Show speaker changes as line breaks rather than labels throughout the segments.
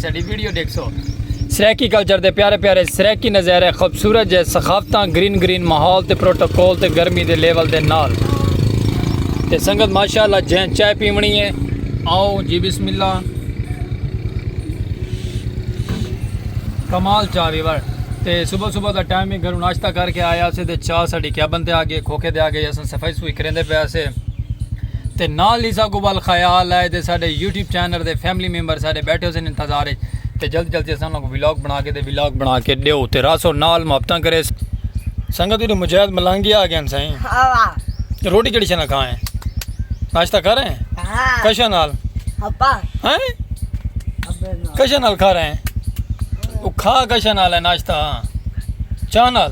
ساڈی ویڈیو ڈیکھسو سرائیکی کلچر دے پیارے پیارے سرائیکی نظیرے خوبصورت جے ثقافتاں گرین گرین ماحول تے پروٹوکول تے گرمی دے لیول دے نال تے سنگت ماشاءاللہ جیں چائے پیونی ہے آؤ جی بسم اللہ کمال چاہ ویور تے صبح صبح دا ٹائم ہی گھروں ناشتہ کر کے آیا سے تے چاہ ساڈی کیبن تے آ گئے کھوکھے دے آ گئے اساں صفائی سوئی کریندے پیا سے تے نال ہی ساکوں ول خیال ہے تے ساڈے یوٹیوب چینل تے فیملی ممبر ساڈے بیٹھے ہوسن انتظار اچ تے جلدی جلدی اساں انہاں کو ولاگ بنا کے تے ولاگ بنا کے ڈیو تے راسو نال محبتاں کرے سنگت دی مجاہد ملانگی آ گئے سائیں روٹی کیڑی شنا کھائیں ناشتہ کر رہے ہیں کشا نال ہیں کشا نال کھا رہے ہیں وہ کھا کشا نال ہے ناشتہ چاہ نال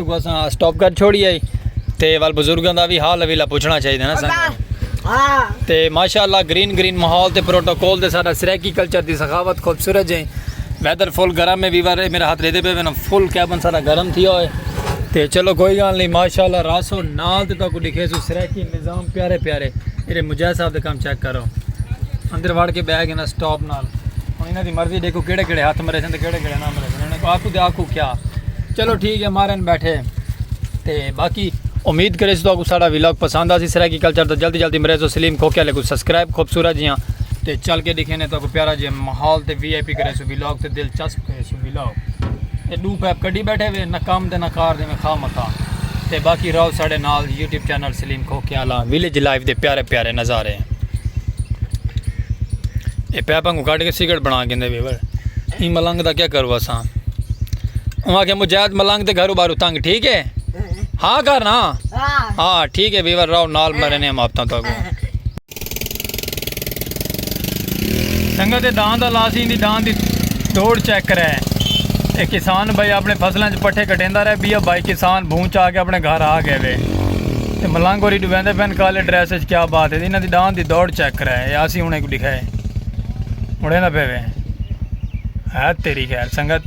کو اساں سٹاپ کر چھوڑی آئی تے وال بزرگاں دا بھی حال اویلا پوچھنا چاہیے نا سانگا تے ماشاءاللہ گرین گرین ماحول تے پروٹوکول دے سارا سرائیکی کلچر دی سخاوت خوبصورت جائیں ویدر فل گرم ہے ویور میرا ہاتھ ریدے پہ وینا فل کیبن سارا گرم تھی ہوئے تے چلو کوئی گال نہیں ماشاءاللہ راسو نال تے تو کو لکھے سو سرائیکی نظام پیارے پیارے میرے مجاہ صاحب دے کام چیک کرو اندر وڑ کے بیگ انہا سٹاپ نال انہا دی مرضی دیکھو کیڑے کیڑے ہاتھ مرے سن تے کیڑے کیڑے نام مرے سن انہا کو آکو دے آکو کیا چلو ٹھیک ہے مارن بیٹھے تے باقی امید کرے سو کو ساڑا ویلاگ پسند آسی سرائیکی کلچر دا جلدی جلدی مریض و سلیم کھوکے والے کو سبسکرائب خوبصورت جیاں تے چل کے دکھینے تو کو پیارا جے محول تے وی آئی پی کرے سو ویلاگ تے دلچسپ کرے سو ویلاگ تے دو پیپ کڈی بیٹھے وے نہ کام دے نہ کار دے میں خواہ مخواہ تے باقی راو ساڑے نال YouTube channel Saleem Khokiyalan village life دے پیارے پیارے نظارے ہیں اے پیپاں کو کٹ کے سگریٹ بنا گیندے وی ور ایں ملنگ دا کیا کرو اساں انہاں کہ مجاہد ملنگ دے گھرو بارو تنگ ٹھیک ہے ہاں کرنا ہاں ٹھیک ہے ویور راو نال مرنے ہم آپ تاں تاں کو سنگت دے دان دا لاسی دی دان دی توڑ چیک کرے اے کسان بھائی اپنے فصلاں چ پٹھے کٹیندا رہے بیا بھائی کسان بھون چا کے اپنے گھر آ گئے وے تے ملنگ ہوری ڈویندے پین کالے ڈریس وچ کیا بات ہے انہاں دی دان دی دوڑ چیک کرے اے اسی ہن ایک دکھائے مڑے نہ پے وے ہے تیری خیر سنگت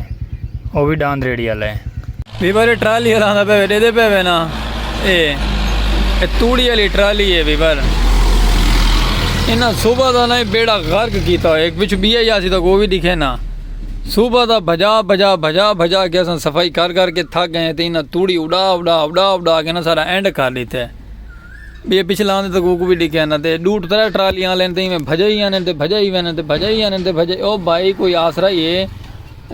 او وی ڈاند ریڑھی آلا ہے۔ وی بھر ٹرالی آلا آندا پیا وے ڈیدے پے وے نا اے اے توڑی آلی ٹرالی اے وی بھر انہاں صوبہ دا نہ بیڑا غرق کیتا ہوئے ایک پچھو بیا یا سی تاں کو وی دکھے نا صوبہ دا بھجا بھجا بھجا بھجا کے اساں صفائی کر کر کے تھک گئے ہیں تے انہاں توڑی اڑا اڑا اڑا اڑا کے نا سارا اینڈ کر دیتے۔ بھئی پچھلے آندے تاں کوکو بھی ڈیکھیا نہ تے ڈو ترے ٹرالیاں لین تے میں بھجے ہی آنے تے بھجے ہی وینے تے بھجے ہی آنے تے بھجے او بھائی کوئی آسرا ہی ہے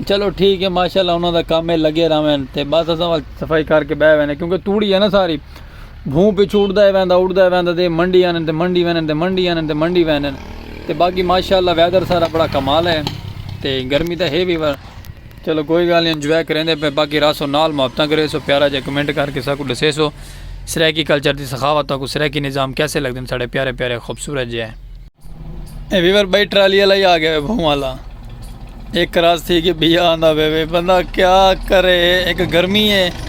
چلو ٹھیک ہے ماشاءاللہ انہاں دا کم ہے لگے رہویں تے بس اساں صفائی کر کے بہ وینے کیونکہ توڑی ہے نا ساری بھوں پچھو اڑدا ہے ویندا اڑدا ہے ویندا تے منڈی آنے تے منڈی وینے تے منڈی آنے تے منڈی وینے تے باقی ماشاءاللہ ویدر سارا بڑا کمال ہے تے گرمی تاں ہے بھی چلو کوئی گالھ نی انجوائے کریندے پے باقی راسو نال محبتاں کریسو پیارا جیا کمنٹ کر کے ساکوں ڈسیسو سرائیکی کلچر دی سخاوت تہاکوں سرائیکی نظام کیسے لگدن ساڈے پیارے پیارے خوبصورت جے۔ اے ویور بھائی ٹرالی آلا ہی آگیا وے بھوم آلا اے کراس تھی کے بیا آندا پے وے بندہ کیا کرے اک گرمی اے۔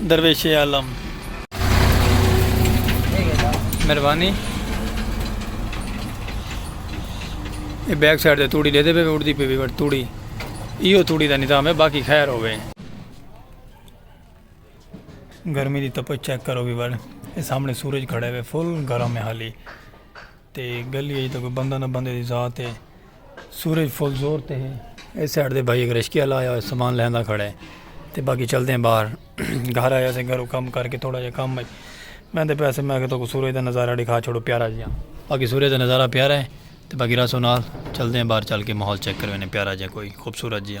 درویش عالم مہربانی یہ بیک سائڈ تے توڑی لے دے پہ اڑدی پہ بھی بٹ توڑی ایو توڑی دا نظام ہے باقی خیر ہوئے گرمی دی تپچ چیک کرو بھی بڑ سامنے سورج کھڑے ہوئے فل گرم ہے حالی تے گلی اچ تاں کوئی بندہ نہ بندے دی ذات ہے۔ سورج فل زور تے ہے۔ اے سائیڈ دے بھائی اک رشکیہ لایا ہویا سامان لیندا کھڑا ہے۔ تے باقی چلدے ہیں باہر۔ گھر آیا سے گھرو کم کر کے تھوڑا جیا کم اچ بیندے پئے سے میں کہ تاکوں سورج دا نظارہ ڈکھا چھوڑو پیارا جیا۔ باقی سورج دا نظارہ پیارا ہے۔ تے باقی راسو نال چلدے ہیں باہر چل کے ماحول چیک کر ویندے پیارا جیا کوئی خوبصورت جیا۔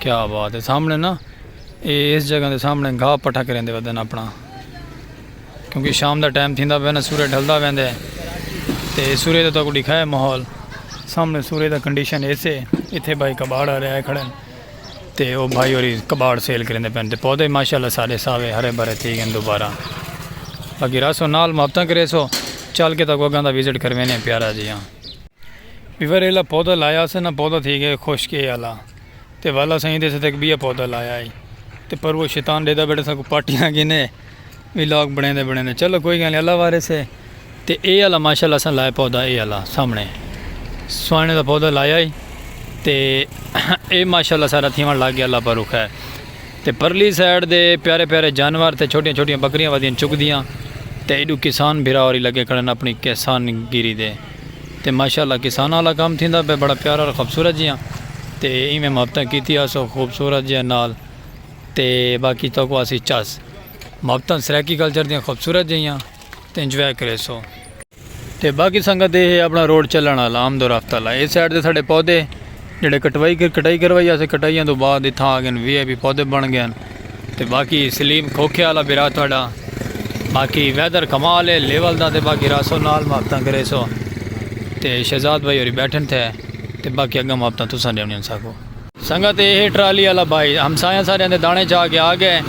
کیا بات ہے سامنے نا یہ اس جگہ دے سامنے گھا پٹھا کریں دے ودن اپنا کیونکہ شام دا ٹائم تھیندا پہ نا سورے ڈھلدا ویندے تے سورے دا تو کو دکھائے ماحول سامنے سورے دا کنڈیشن ایسے ایتھے بھائی کباڑ آ رہے آئے کھڑے تے او بھائی اور کباڑ سیل کریں دے پہن تے پودے ماشاءاللہ سارے ساوے ہرے بھرے تھی گئے دوبارہ باقی راسو نال محبتاں کرے سو چل کے تک وگاں دا وزٹ کروینے پیارا جی ہاں پھر ایلا پودا لایا اسے نہ پودا تھی گئے خشک اے آلا تے والا سائیں دے سدک بیا پودا لایا اے تے پر وہ شیطان ڈیدا بیٹھے سا کو پاٹیاں گینے وی لاگ بنے دے بنے دے چلو کوئی گل اللہ وارے سے تے اے آلا ماشاءاللہ سا لائے پودا اے آلا سامنے سوائنے دا پودا لایا اے تے اے ماشاءاللہ سارا تھیوان لگ گیا اللہ پر رکھا ہے تے پرلی سائیڈ دے پیارے پیارے جانور تے چھوٹیاں چھوٹیاں بکریاں ودیاں چک دیاں تے ایڈو کسان بھرا اور لگے کھڑن اپنی کسان گیری دے تے ماشاء اللہ کساناں آلا کم تھیندا پئے بڑا پیارا خوبصورت جیاں تے ایویں محبتاں کیتی آسو خوبصورت جیاں نال تے باقی توکو آسی چس محبتاں سرائیکی کلچر دیاں خوبصورت جیاں تے انجوائے کریسو تے باقی سنگت اے ہے اپنا روڈ چلن آلا آمد و رفت آلا اے سائیڈ تے ساڈے پودے جیڑھے کٹوائی کٹائی کروائی اسے کٹائیاں تو بعد اتھاں آ گئن وی آئی پی پودے بن گئن تے باقی سلیم کھوکھے والا بھی رات تھوڑا باقی ویدر کمال ہے لیول دا تے باقی راسو نال ماپتاں کرے سو تے شہزاد بھائی ہوری بیٹھن تھے تے باقی اگاں ماپتاں تساں ڈیونی ہن ساکو سنگت اے ٹرالی والا بھائی ہمسایاں سارے اندے دانے چا کے آ گئے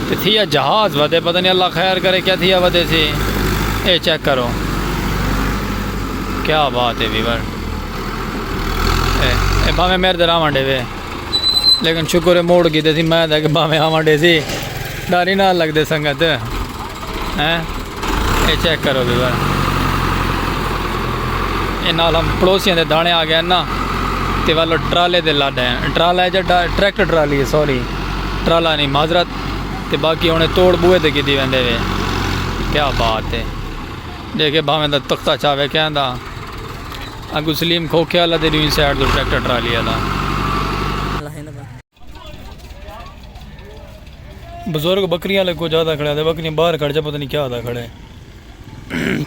تے تھیا جہاز ودے پتہ نہیں اللہ خیر کرے کیا تھیا ودے سی اے چیک کرو کیا بات ہے ویور اے بھاویں میرے در آون ڈے وے لیکن شکر ہے موڑ گیتے سی میں تاکہ بھاویں آون ڈے سی ڈاری نہ لگ دے سنگت ہیں اے چیک کرو بھی بھائی اے نال ہم پڑوسیاں دے دانے آ گئے نا تے والو ٹرالے دے لڈ ہیں ٹرالا ہے جا ٹریکٹر ٹرالی ہے سوری ٹرالا نہیں معذرت تے باقی انہیں توڑ بوئے دے کی دی ویندے وے کیا بات ہے دیکھے بھاویں دا تختہ چاہے کہیں دا اگوں سلیم کھوکھے آلا تے ݙوہیں سائیڈ توں ٹریکٹر ٹرالی آلا۔ بزرگ بکریاں آلے کجھ آدھا کھڑے آدھے بکریاں باہر کھڑے جا پتہ نہیں کیا آدھا کھڑے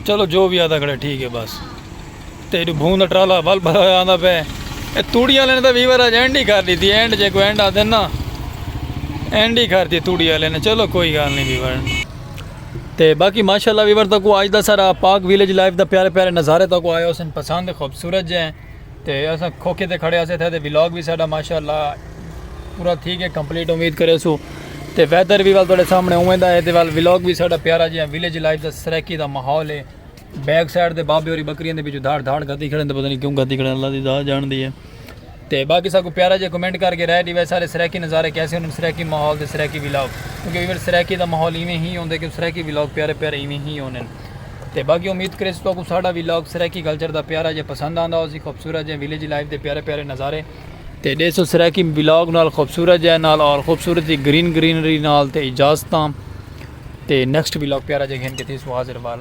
چلو جو بھی آدھا کھڑے ٹھیک ہے بس تے جو بھون دا ٹرالا ول بھرا ہویا آندا پے اے توڑی آلے نے تے ویور اج اینڈ ہی کر دیتی اینڈ جے کوئی اینڈ آندے نا اینڈ ہی کر دی توڑی آلے نے چلو کوئی گال نہیں ویور تے باقی ماشاءاللہ ویور تکو آج دا سارا پاک ویلیج لائف دا پیارے پیارے نظارے تکو آیا حسن پسند خوبصورت جے ہیں تے اساں کھوکھے تے کھڑے آسے تھے تے ویلاگ بھی ساڑا ماشاءاللہ پورا تھی گئے کمپلیٹ امید کرے سو تے ویدر بھی وال توڑے سامنے ہوئے دا ہے تے وال ویلاگ بھی ساڑا پیارا جے ہیں ویلیج لائف دا سریکی دا محول ہے بیک سائٹ دے بابے اور بکریاں دے بھی جو دھاڑ دھاڑ گھتی کھڑے ہیں تو پتہ نہیں کیوں گھتی کھڑے ہیں اللہ دی دا جان دی ہے تے باقی ساکو پیارا جے کمنٹ کر کے رائے ڈیوے سارے سریکی نظارے کیسے انہوں سریکی ماحول دے سریکی ویلاگ کیونکہ ایور سریکی دا ماحول ایویں ہی ہوندے کہ سریکی ویلاگ پیارے پیارے ایویں ہی ہوندے تے باقی امید کرے تو کو ساڈا ویلاگ سریکی کلچر دا پیارا جے پسند آندا ہو سی خوبصورت جے ویلیج لائف دے پیارے پیارے نظارے تے دے سو سریکی ویلاگ نال خوبصورت جے نال اور خوبصورت جی گرین گرینری نال تے اجازتاں تے نیکسٹ ویلاگ پیارا جے گھن کے تھی سو حاضر وال